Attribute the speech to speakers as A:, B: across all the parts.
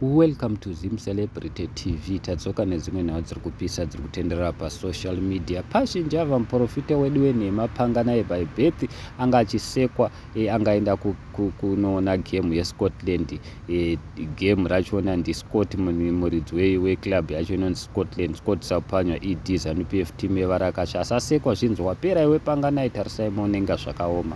A: Welcome to Zim Celebrity TV. Tadzoka nedzimwe nhau dziri kupisa dziri kutenderera pasocial media. Pazhinji ava muporofita wedu wenhema panga naye by birth anga achisekwa e, eh, angaenda kunoona ku, ku gemu yescotland e, eh, gemu rachona ndiscott muridzi weclub we yacho inonzi scotland scott sapanywa ed zanupf team yevarakasha asasekwa zvinzi wapera iwe panga naye tarisai moonenga zvakaoma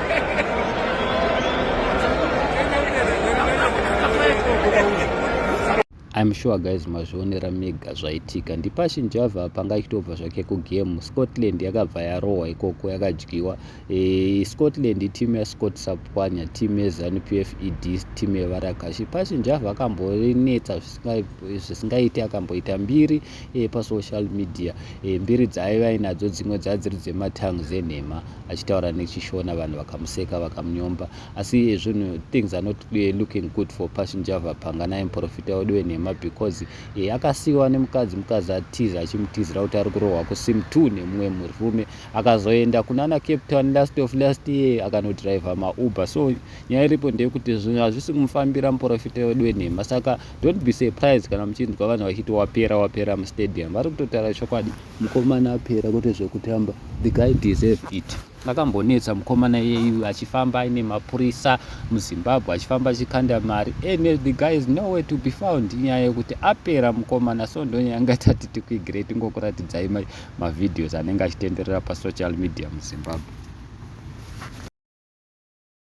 A: I'm sure guys mazvionera mega zvaitika ndipashin java panga ichitobva zvake kugame scotland yakabva yarohwa ikoko yakadyiwa e, scotland itimu yascott sapwanya timu yezanup f ed timu yevarakashi pashin java akamborinetsa zvisingaiti akamboita mbiri e, pasocial media e, mbiri dzaaiva ainadzo dzimwe dzaa dziri dzematangs enhema achitaura nechishona vanhu vakamuseka vakamunyomba asi zvinhu things are not e, looking good for pashinjava panga naye muprofita wedu wenhema because e, akasiyiwa nemukadzi mukadzi atiza achimutizira kuti ari kurohwa kusim t nemumwe murume akazoenda kunana cape town last of last year akanodriver mauber so nyaya iripo ndeyekuti zvinhu hazvisi kumufambira muprofita wedu wenhema saka don't be surprised kana muchinzwa vanhu vachiti wapera wapera mustadium vari kutotaura chokwadi mukomana apera kwete zvekutamba the guy deserve it akambonetsa mukomana iyeyu achifamba aine mapurisa muzimbabwe achifamba achikanda mari and eh, the guy is nowhere to be found inyaya yekuti apera mukomana so ndonyaya anga tati tikwigirei tingokuratidzai mavideos anenge achitenderera pasocial media muzimbabwe